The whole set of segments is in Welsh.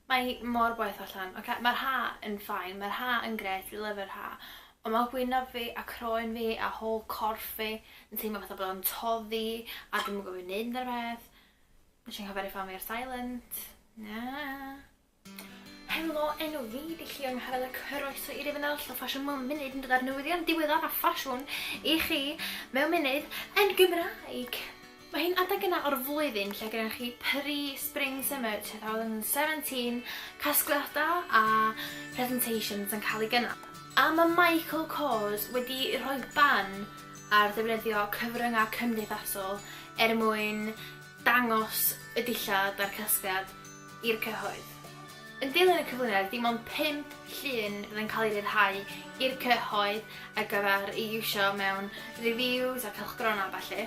Mae hi mor boeth allan. Ocê, mae'r ha' yn fine, mae'r ha' yn grêt, fi lyfio'r ha'. Ond mae gwyneb fi a croen fi a whole corff fi yn teimlo fatha bod o'n toddi a dwi'm yn gwybod be i wneud amdano peth. Wnes i anghofio rhoi ffôn fi ar silent. Helo, enw fi 'di Llion Harel a croeso i rif yn arall o Fashion Mum Munud yn dod â'r newyddion diweddara' ffasiwn i chi mewn munud yn Gymraeg! Mae hi'n adeg yna o'r flwyddyn lle gennych chi pre-spring summer 2017, casgliad da a presentations yn cael ei gynnal. A mae Michael Kors wedi rhoi ban ar ddefnyddio cyfryngau cymdeithasol er mwyn dangos y dillad a'r casgliad i'r cyhoedd. Yn dilyn y cyflwyniad, dim ond pump llun fydd yn cael eu rhyddhau i'r cyhoedd ar gyfer ei iwsio mewn reviews a cylchgronau a ballu.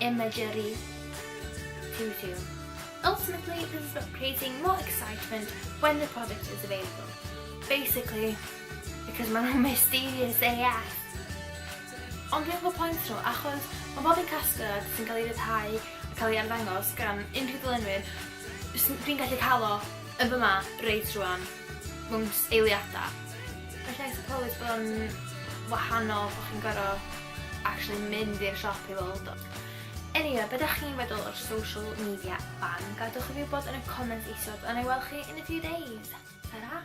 imagery to do. Ultimately, this is about creating more excitement when the product is available. Basically, because maen nhw'n mysterious AF. Ond dwi'n gwybod pwynt nhw, achos mae bob un casgliad sy'n cael ei ryddhau a cael ei arddangos gan unrhyw ddylunwyr, dwi'n gallu cael o yn fy ma, reit rwan. mewn eiliadau. Gallai seicoleg fod yn wahanol bod chi'n gorfod actually mynd i'r siop i weld o. Eniwe, be da chi'n feddwl o'r social media ban? Gadwch i fi wybod yn y comments isod, a na i weld chi in a few days. Ta-ra!